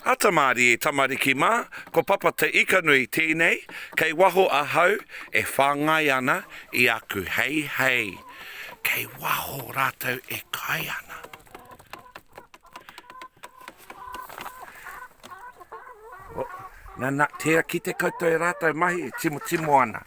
Ata Marie tamariki mā, ko Papa Te Ikanui tēnei, kei waho ahau e whāngai ana i aku heihei. Kei waho rātou e kai ana. Nana, tēra ki te koutou e rātou mahi e timotimo ana.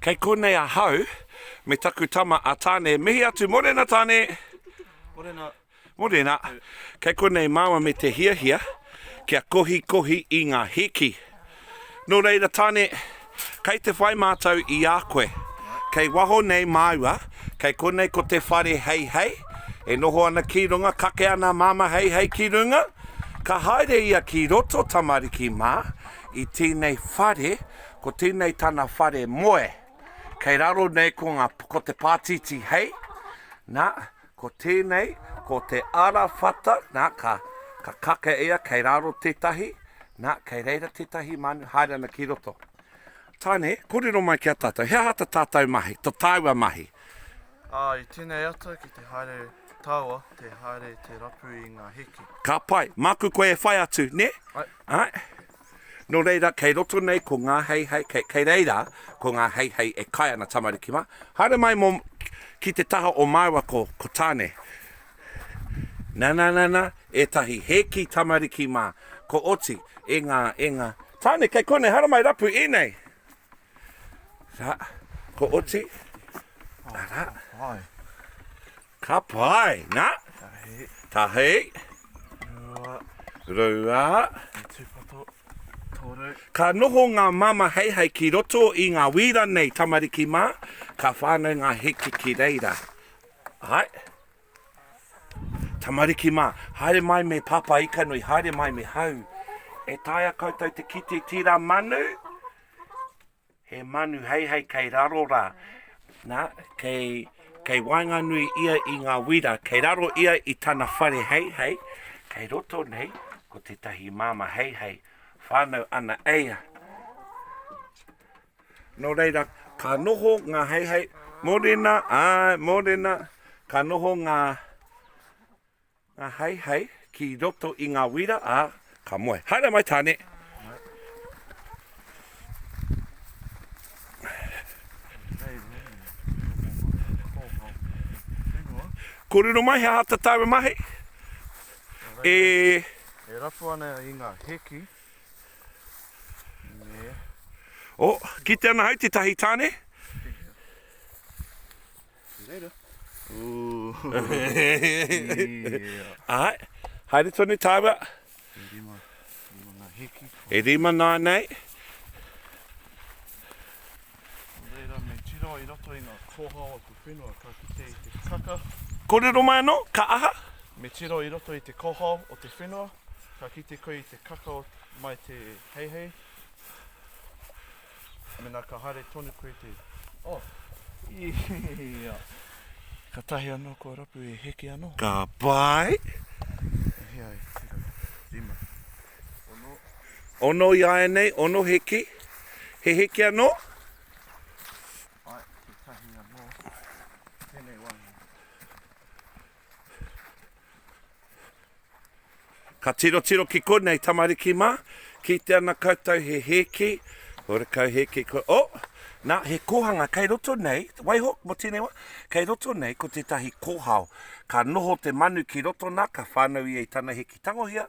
Kei konei ahau me taku tama a Tane. Mihi atu, morena Tane! Morena. Morena. Kei konei māua me te hiahia kia kohikohi i ngā hiki. Nō reira Tane, kei te whai mātou i a koe. Kei waho nei māua, kei konei ko te whare Heihei, e noho ana ki runga, kake ana a Māmā Heihei ki runga, ka haere ia ki roto, tamariki mā, I tēnei whare, ko tēnei tana whare moe. Kei raro nei ko ngā, ko te pātītī hei, nā, ko tēnei, ko te arawhata, nā, ka, ka kake ia, kei raro tētahi, nā, kei reira tētahi manu, haere ana ki roto. Tāne, kōrero mai ki a tātou, he aha ta tātou mahi, to tāua mahi? Ā, i tēnei ata, ki te haere taua, te haere te rapu i ngā heke. Ka pai. Māku koe e whai atu, nē? Ai. Āe. Nō reira, kei roto nei ko ngā heihei, kei, kei reira ko ngā heihei e kai ana tamariki mā. Haere mai mō, ki te taha o māua ko, ko Tāne. Nananana, ētahi hēki tamariki mā, ko Oti, e ngā, e ngā. Tāne, kei konei, haere mai rapu, ēnei. Rā, ko Oti, arā. Āe. Ka pai, na. Tahi. Tahi. Rua. Rua. E tupato. Toru. Ka noho nga mama heihei ki roto i nga wira nei, tamariki ma, ka whanau nga heke ki reira. Hai. Tamariki ma, haere mai me papa ikanui, haere mai me hau. E taea koutou te kite tira manu? He manu heihei kei raro rā. Nā, kei, kei waenganui ia i ngā wira, kei raro ia i tana whare heihei, kei roto nei ko tētahi māmā heihei, whānau ana e ia. Nō reira, ka noho ngā heihei, mōrena, āe, mōrena, ka noho ngā. Nga hei hei ki roto i nga wira a ka moe. Haere mai tane. Korero mai he aha ta taua mahi? E. E rapu ana i nga heki me. Oh, kite ana hei tetahi tane. See you later. Haere tonu tāua. E rima, rima ngā hēki. E rima nānei. Nō reira, me tiro i roto i ngā kōhao a te whenua ka kite i te kaka. Kōrero mai anō, ka aha? Me tiro i roto i te kōhao o te whenua, ka kite koe i te kaka mai te heihei. Mena ka haere tonu koe te. Oh, ia. Katahi ano kua rapu e heke ano. Ka pai. E hea e tira, rima. Ono. Ono i aenei, ono heke. He heke ano. Ai, katahi ano. Tenei wahine. Ka tirotiro ki konei tamariki mā, kite ana koutou he hēki, horekau hēki ko, oh! Nā, he kōhanga kei roto nei, waiho, mō tēnei wā, kei roto nei ko tētahi kōhao. Ka noho te manu ki roto nā, ka whānau ia i tana hēki tangohia.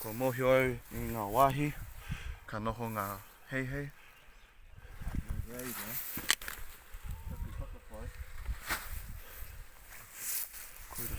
Kua mōhio au i ngā wāhi ka noho ngā heihei. Nō reira, taku whakapae, koira.